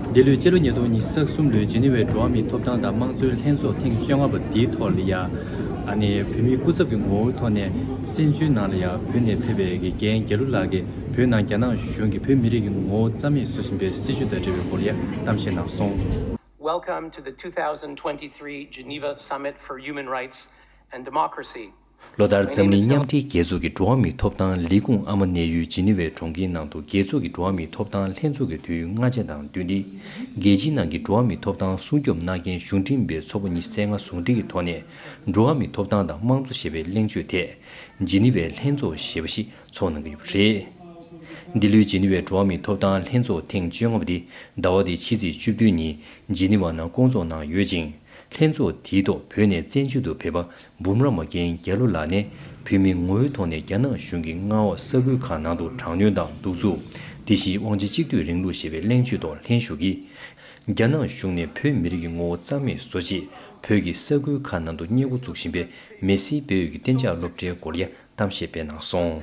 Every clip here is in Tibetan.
འདི་ལོའི་ཕྱི་ལོ་ཉིས་སྟོང་ཉི་ཤུ་རྩ་གསུམ་ལོའི་ཇི་ནི་ཝའི་འགྲོ་བ་མིའི་ཐོབ་ཐང་དང་དམངས་གཙོའི་ལྷན་ཚོགས་ཐེངས་བཅོ་ལྔ་པ་འདིའི་ཐོག་ལ་ཡང། བོད་མིའི་སྐུ་ཚབ་ཀྱི་ངོ་བོའི་ཐོག་ནས་སེམས་ཅུའི་ནང་ལ་ཡང་བོད་ནས་ཕེབས་པའི་དགེ་རྒན་རྒྱལ་ལོ་ལགས་ཀྱིས་བོད་ནང་རྒྱ་ནག་གཞུང་གིས་བོད་མི་རིགས་ཀྱི་ངོ་བོ་རྩ་མེད་བཟོ་བཞིན་པའི་སྲིད་བྱུས་དང་འབྲེལ་བའི་སྐོར་ཡང་གཏམ་བཤད་གནང་སོང། Welcome to the two thousand twenty three Geneva Summit for Human Rights and Democracy. ལོ་ལྟར་འཛམ་གླིང་མཉམ་འབྲེལ་རྒྱལ་ཚོགས་ཀྱི་འགྲོ་བ་མིའི་ཐོབ་ཐང་ལས་ཁུངས་ཨ་མ་གནས་ཡུལ་ཇི་ནི་ཝའི་གྲོང་ཁྱེར་ནང་དུ་རྒྱལ་ཚོགས་ཀྱི་འགྲོ་བ་མིའི་ཐོབ་ཐང་ལྷན་ཚོགས་ཀྱི་དུས་ཡུན་ལྔ་ཆ་དང་བསྟུན་ཏེ། རྒྱལ་སྤྱིའི་ནང་གི་འགྲོ་བ་མིའི་ཐོབ་ཐང་སྲུང་སྐྱོབ་གནང་མཁན་གཞུང་འབྲེལ་མིན་པའི་ཚོགས་པ་གཉིས་བསྲེས་ལྔ་ཟུང་སྒྲིག་གི་ཐོག་ནས་འགྲོ་བ་མིའི་ཐོབ་ཐང་དང་དམངས་གཙོ་ཞེས་པའི་གླེང་བརྗོད་དེ། ཇི་ནི་ཝའི་ལྷན་ཚོགས་ཞེས་པ་ཞིག་ཚོགས་གནང་གི་ཡོད་པ་རེད། འདི་ལོའི་ཇི་ནི་ཝའི་འགྲོ་བ་མིའི་ཐོབ་ཐང་ལྷན་ཚོགས་ཐེངས་བཅོ་ལྔ་པ་དེ་ཟླ་བ་འདིའི་ཕྱི་ཚེས་བཅུ་བདུན་ཉིན་ཇི་ནི་ཝ་ནང་བསྐོང་ཚོགས་གནང་ཡོད་ཅིང། ལྷན་ཚོགས་དེའི་ཐོག་བོད་ནས་བཙན་བྱོལ་དུ་ཕེབས་པ་འབུམ་རམས་པ་རྒན་རྒྱལ་ལོ་ལགས་ནས་བོད་མི་ངོ་བོའི་ཐོག་ནས་རྒྱ་ནག་གཞུང་གི་མངའ་འོག་ས་ཁུལ་ཁག་ནང་དུ་དྲག་གནོན་དང་གདུག་རྩུབ། དེ་བཞིན་དབང་ཆ་གཅིག་སྡུད་རིང་ལུགས་ཞེས་པའི་གླེང་བརྗོད་ཐོག་ལྷན་ཞུགས་ཀྱིས། རྒྱ་ནག་གཞུང་ནས་བོད་མི་རིགས་ཀྱི་ངོ་བོ་རྩ་མེད་བཟོ་ཆེད་བོད་ཀྱི་ས་ཁུལ་ཁག་ནང་དུ་བསྙད་བཀུར་འཛུགས་བཞིན་པའི་མེ་སིའི་བེ་ཨོལ་གྱི་གཏན་འཇགས་སློབ་གྲྭའི་སྐོར་ཡ་དམ་བཤད་སྤེལ་གནང་སོང།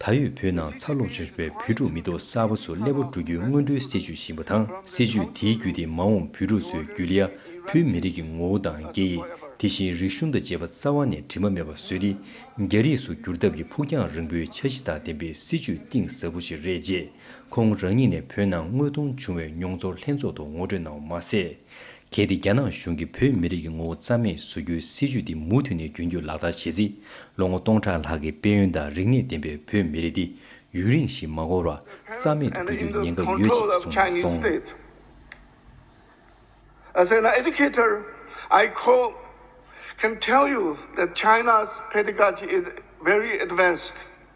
ད་ཡོད་བོད་ནང་འཚར་ལོངས་བྱུང་བའི་བོད་ཕྲུག་མི་ཐོག་གསར་བ་ཚོ་སླེ་བོ་འགྲོ་རྒྱུའི་སྔོན་འགྲོའི་སྲིད་ཇུས་བཞིན་པ་དང་སྲིད་ཇུས་དེའི་བརྒྱུད་དེ་མ་འོངས་བོད་ཕྲུག་ཚོའི་རྒྱུད་ལེ་ཡ་བོད་མི་རིགས་ཀྱི་ངོ་བོ་དང་སྐད་ཡིག་དེ་བཞིན་རིག་གཞུང་དང་བཅས་པ་རྩ་བ་ནས་དྲི་མ་མེད་པ་བཟོས་ཏེ་རྒྱ་རིགས་སུ་བསྒྱུར་ཐབས་ཀྱི་ཕུགས་རྒྱང་རིང་པོའི་འཆར་གཞི་དང་ལྡན་པའི་སྲིད་ཇུས་གཏིང་ཟབ་པོ་ཞིག་རེད་ཅེས་ཁོང་རང་ཉིད་ནས་བོད་ནང་དངོས་མཐོང་བྱུང་བའི་མྱོང་ཚོར་ལྷན་ཚོགས་ཐོག་ངོ་སྤྲོད་གནང་བ་མ་ཟད། གལ་ཏེ་རྒྱ་ནག་གཞུང་གིས་བོད་མི་རིགས་ཀྱི་ངོ་བོ་རྩ་མེད་བཟོ་རྒྱུའི་སྲིད་བྱུས་འདི་མུ་མཐུད་ནས་རྒྱུན་སྐྱོད་ལག་བསྟར་བྱེད་རྩིས་ལོ་ངོ་སྟོང་ཕྲག་ལྷག་གི་དཔལ་ཡོན་དང་རིག་གནས་ལྡན་པའི་བོད་མི་རིགས་འདི་ཡུན་རིང་ཞིག་མ་འགོར་བར་རྩ་མེད་དུ་འགྲོ་རྒྱུའི་ཉེན་ཁ་ཡོད་ཅེས་གསུངས་སོང།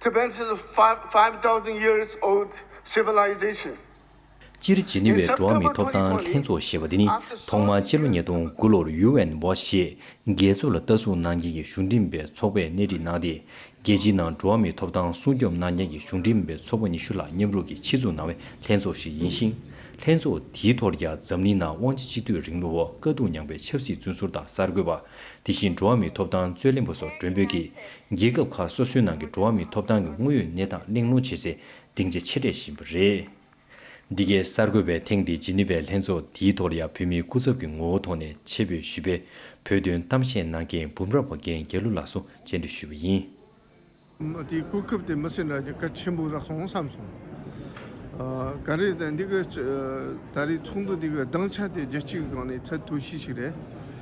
Tibet is a five five thousand years old civilization. སྤྱིར་ཇི་ནི་ཝའི་འགྲོ་བ་མི་ཐོབ་ཐང་ལྷན་ཚོགས་ཞེས་པ་འདི་ནི་ཐོག་མར་སྤྱི་ལོ་ཉིས་སྟོང་དགུ་ལོར་ཡུའུ་ཨེན་བྷོ་ཞེས་རྒྱལ་ཚོགས་ལ་ལྟ་སྲུང་གནང་མཁན་གྱི་གཞུང་འགྲིམས་པའི་ཚོགས་པས་སྣེ་ཁྲིད་གནང་སྟེ་རྒྱལ་སྤྱིའི་ནང་འགྲོ་བ་མིའི་ཐོབ་ཐང་སྲུང་སྐྱོབ་གནང་མཁན་གྱི་གཞུང་འགྲིམས་པའི་ཚོགས་པ་ཉི་ཤུ་ལྷག་མཉམ་རུབ་ཀྱིས་ཕྱིར་འཛུགས་གནང་བའི་ལྷན་ཚོགས་ཤིག་ཡིན་ཞིང། ལྷན་ཚོགས་དེའི་ཐོག་རྒྱ་འཛམ་གླིང་ནང་དབང་ཆ་གཅིག་སྡུད་རིང་ལུགས་འོག་དཀའ་སྡུག་མྱངས་པའི་ཆབ་སྲིད་བཙོན་ཟུར་དང་གསར་འགོད་པ། དེ་བཞིན་འགྲོ་བ་མིའི་ཐོབ་ཐང་རྩོད་ལེན་པ་སོགས་མགྲོན་འབོད་ཀྱིས་རྒྱལ་ཁབ་ཁག་སོ་སོའི་ནང་གི་འགྲོ་བ་མིའི་ཐོབ་ཐང་གི་དངོས་ཡོད་གནས་སྟངས་གླེང་སློང་བྱེད་ཚེ་སྡིངས་ཆ་ཆེ་གྲས་ཞིག་ཡིན་པ་རེད། འདི་གའི་གསར་འགོད་པས་ཐེངས་འདིའི་ཇི་ནི་ཝའི་ལྷན་ཚོགས་དེའི་ཐོག་ལ་ཡང་བོད་མིའི་སྐུ་ཚབ་ཀྱི་ངོ་བོ་ཐོག་ནས་ཆེད་ཕེབས་ཞུས་པའི་བོད་དོན་གཏམ་བཤད་གནང་མཁན་འབུམ་རམས་པ་རྒན་རྒྱལ་གླུ་ལགས་སུ་མཇལ་འཕྲད་ཞུས་པ་ཡིན། མི་དེའི་གོ་སྐབས་དེ་མི་སེར་འདྲ་གཅིག་ག་ཆེན་པོ་རག་སོང་བསམ་སོང། ག་རེ་ད་འདི་གི་ད་རེའི་ཚོགས་འདུ་འདི་གི་སྡིངས་ཆ་དེ་རྒྱལ་སྤྱིའི་སྒང་ནས་ཚད་མཐོ་ཤོས་ཤིག་རེད།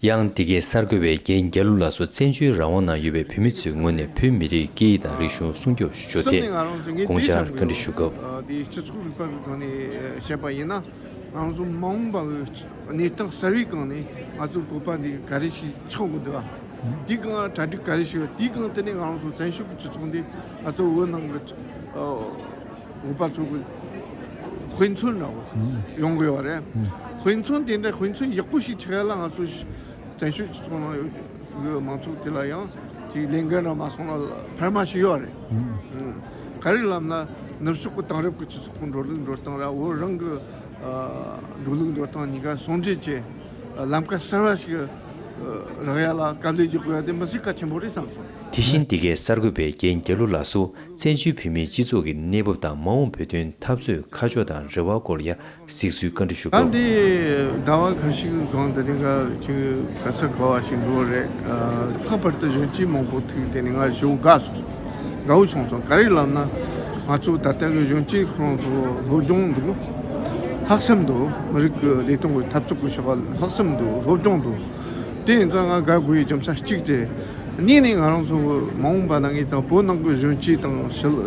ཡང་འདི་གའི་གསར་འགོད་པས་རྒན་རྒྱ་ལུ་ལགས་སུ་བཙན་བྱོལ་རང་དབང་ནང་ཡོད་པའི་བོད་མི་ཚོའི་ངོས་ནས་བོད་མི་རིགས་སྐད་ཡིག་དང་རིག་གཞུང་སྲུང་སྐྱོབ་ཞུ་ཕྱོགས་ཐད་དགོངས་འཆར་བཀའ་འདྲི་ཞུ་སྐབས། ངོ་པ་ཚོ་དབུས་མཚོན་ནང་ཡོང་དགོས་བ་རེད་དབུས་མཚོན་དེ་འདྲ་དབུས་མཚོན་ཡག་པོ་ཞིག་བྱེད་ཡ་ལ་ང་ཚོ་བཙན་ཤུགས་ཀྱིས་སོང་ན་ཡོད་མང་ཚོགས་དེ་ལ་ཡང་དེ་ལས་འགན་རང་མ་སོང་ན་འཕར་མ་ཞིག་ཡོད་རེད་ག་རེ་ལབ་ན་ནུབ་ཕྱོགས་ཀྱི་དེང་རབས་ཀྱི་སྤྱི་ཚོགས་ཀྱི་འགྲོ་ལུགས་འགྲོ་སྟངས་ར་བོད་རང་གི་འགྲོ་ལུགས་འགྲོ་སྟངས་གཉིས་ཀ་ཟུང་འབྲེལ་བྱེད་ལམ་ཁ་གསར་བ་ཞིག་རག་ཡ་ལ་དཀའ་ལས་རྒྱག་དགོས་བ་དེ་མི་སེར་གལ་ཆེན་པོ་རེད་བསམ་སོང། དེ་བཞིན་འདི་གའི་གསར་འགོད་པའི་རྒན་རྒྱ་ལོ་ལགས་སུ། བཙན་བྱོལ་བོད་མིའི་སྤྱི་ཚོགས་ཀྱི་གནས་བབ་དང་མ་འོངས་བོད་དོན་འཐབ་རྩོད་ཁ་ཕྱོགས་དང་རེ་བ་སྐོར་ཡ་གཟིགས་ཚུལ་བཀའ་འདྲི་ཞུ་སྐབས། ད་འདིའི་ཟླ་བ་གང་ཞིག་གང་དེ་རིང་ག་ཅིག་ག་ས་ག་བ་ཞིག་འགྲོ་བ་རེད། ལྷག་པར་དུ་གཞོན་སྐྱེས་མང་པོ་ཐུག་དེ་ནས་ང་ཞེ་བོ་དགའ་སོང། དགའ་བོ་བྱུང་སོང་ག་རེ་ལབ་ན། ང་ཚོ་ད་ལྟ་གི་གཞོན་སྐྱེས་ཁོ་རང་ཚོ་སློབ་སྦྱོང་དུ། ལྷག་བསམ་དུ་མི་རིགས་ཀྱི་ལས་དོན་གྱི་འཐབ་རྩོད་ཀྱི་བྱ་བ་ལྷག་བསམ་དུ་སློབ་སྦྱོང་དུ། དེ་ཡིན་ཙང་ང་དགའ་དགུ་ཡི་རྒྱམ་ཤ་གཅིག་ཅེས། གཉིས་ནི་ང་རང་ཚོ་མ་འོངས་པ་ནང་གི་དང་པོ་ནང་གི་གཞོན་སྐྱེས་དང་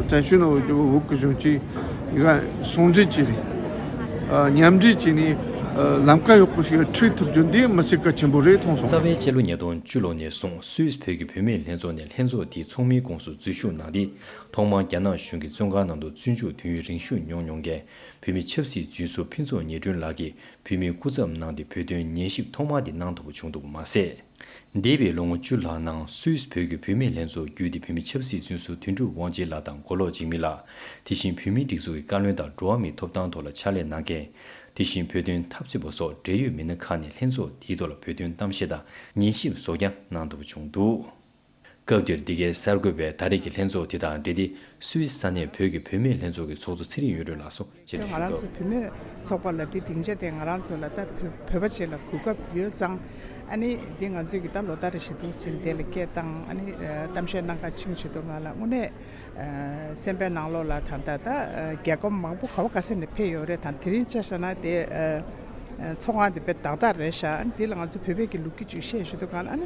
བྱ་ཤུན་འོག་གི་འོག་གི་གཞོན་སྐྱེས་འགའ་ཟུང་འབྲེལ་གྱིས། མཉམ་འབྲེལ་གྱིས་ནི་ལམ་ཁ་ཡོག་པོ་ཞིག་ལ་ཁྲིད་ཐུབ་རྒྱུ་འདི་མི་ཚེ་གལ་ཆེན་པོ་རེད་མཐོང་སོང། རྩ་བའི་སྤྱི་ལོ་ཉིས་སྟོང་བཅུ་ལོ་ནས་བཟུང་སུད་བོད་ཀྱི་བུད་མེད་ལྷན་ཚོགས་ནས་ལྷན་ཚོགས་དེའི་ཚོགས་མིའི་ཁོངས་སུ་འཛུལ་ཞུགས་གནང་སྟེ། ཐོག་མར་རྒྱ་ནག་གཞུང་གི་བཙོན་ཁང་ནང་དུ་བཙོན་འཇུག་དུས་ཡུན་རིང་ཞུགས་མྱོང་མྱོང་མཁན་བུད་མེད་ཆབ་སྲིད་རྫུན་བཟོ་ཕུན་ཚོགས་ཉི་སྒྲོན་ལགས་ཀྱིས་བོད་མིའི་སྐུ་ཚབ་གནང་སྟེ་བོད་དོན་ཉན་ཞིབ་ཐོག་མ་དེ་གནང་ཐུབ་པ་བྱུང་འདུག་མ་ཟད། འདས་པའི་ལོ་ངོ་བཅུ་ལྷག་ནང་སུད་བོད་ཀྱི་བུད་མེད་ལྷན་ཚོགས་བརྒྱུད་དེ་བོད་མི་ཆབ་སྲིད་བཙོན་ཟུར་དོན་གྲུབ་དབང་རྗེ་ལགས་དང་མགོ་ལོག་འཇིགས་མེད་ལགས། དེ་བཞིན་བོད་མིའི་སྒྲིག་འཛུགས་ཀྱི་བཀའ་བློན་དང་འགྲོ་བ་མིའི་ཐོབ་ཐང་ཐོག་ལ་ཕྱག་ལས་གནང་མཁན། དེ་བཞིན་བོད་དོན་འཐབ་རྩོད་པ་སོགས་འབྲེལ་ཡོད་མི་སྣ་ཁག་ནས་ལྷན་ཚོགས་དེའི་ཐོག་ལ་བོད་དོན་གཏམ་བཤད་དང་ཉན་ཞིབ་སོགས་ཀྱང་གནང་ཐུབ་པ་བྱུང་འདུག། སྐབས་འདིར་འདི་གའི་གསར་འགོད་པས་ད་རེས་ཀྱི་ལྷན་ཚོགས་དེ་དང་འབྲེལ་ཏེ་སུད་ས་གནས་བོད་ཀྱི་བུད་མེད་ལྷན་ཚོགས་ཀྱི་ཚོགས་གཙོ་ཚེ་རིང་ཡུས་རོལ་ལགས་སུ་མཇལ་དུ་ང་ཞུས་རང་ཚོ་སྐབས། བུད་མེད་ཚོགས་པ་ལ་འདི་སྡིངས་ཆ་དེ་ང་རང་ཚོ་ལ་ད་བོད་པ་བྱེད་ལ་གུས་སྐབས་ཡོད་ཙང། ཨ་ནི་འདི་ང་ཚོས་ཀྱི་ད་ལོ་ཟླ་རེ་བཞིན་འདུག་ཟིན་དེ་ལ་སྐད་བཏང་ཨ་ནི་གཏམ་བཤད་གནང་ག་ཆིངས་བྱེད་དུ་ང་ལ་དངོས་གནས་སེམས་པའི་ནང་ལོག་ལ་ད་ད་ད་རྒྱལ་ཁོམ་མང་པོ་ག་བ་ག་སེ་ནས་འཕེལ་ཡོད་རེད་དང་དེ་རིང་བཅར་ས་ན་དེ་ཚོགས་ཁང་དེ་དཔེ་དག་དག་རེད་ཤག་ཨ་ནི་འདི་ལ་ང་ཚོ་བོད་པས་ཀྱི་ལུགས་ཀྱི་ཇུས་བཤད་བྱེད་དུ་ག་ལ་ཨ་ནི་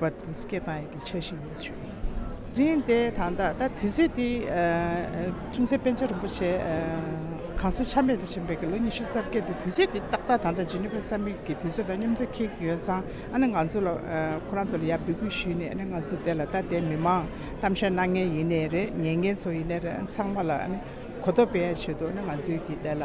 བོད་པ་དེ་སྐད་གཏང་ཡས་ཀྱི་ཆ་ཞིག་ཡིན་ཞུ་ཡིན། རིང་དེ་དང་ད་ད་དུས་ཚོད་དེ་ཅུང་ཟད་པན་ཆ་རིན་པོ་ཆེ་གང་སུ་ཆ་མེད་དུ་ཕྱིན་པའི་གི་ལོ་ཉི་ཤུ་རྩ་བརྒྱད་དེ་དུས་ཚོད་དེ་ཏག་ཏག་ད་ད་ཇི་ནི་ཕ་ས་མིག་གི་དུས་ཚོད་ད་མཉམ་དུ་ཁེལ་གྱི་ཡོད་ཙང་ཨ་ནི་ང་ཚོ་ལ་ཁོ་རང་ཚོ་ལ་ཡར་འབུད་སྐུལ་ཞུས་ནས་ཨ་ནི་ང་ཚོ་དེ་ལ་ད་དེ་མི་མང་གཏམ་བཤད་གནང་ངེས་ཡིན་ནས་རེད་ཉན་མཁན་ཚོ་ཡིན་ནས་རེད་ཨ་ནི་ཚང་མ་ལ་ཨ་ནི་གོ་ཐོབ་སྤེལ་ཡས་བྱོས་འདུག་ཨ་ནི་ང་ཚོའི་གི་དེ་ལ།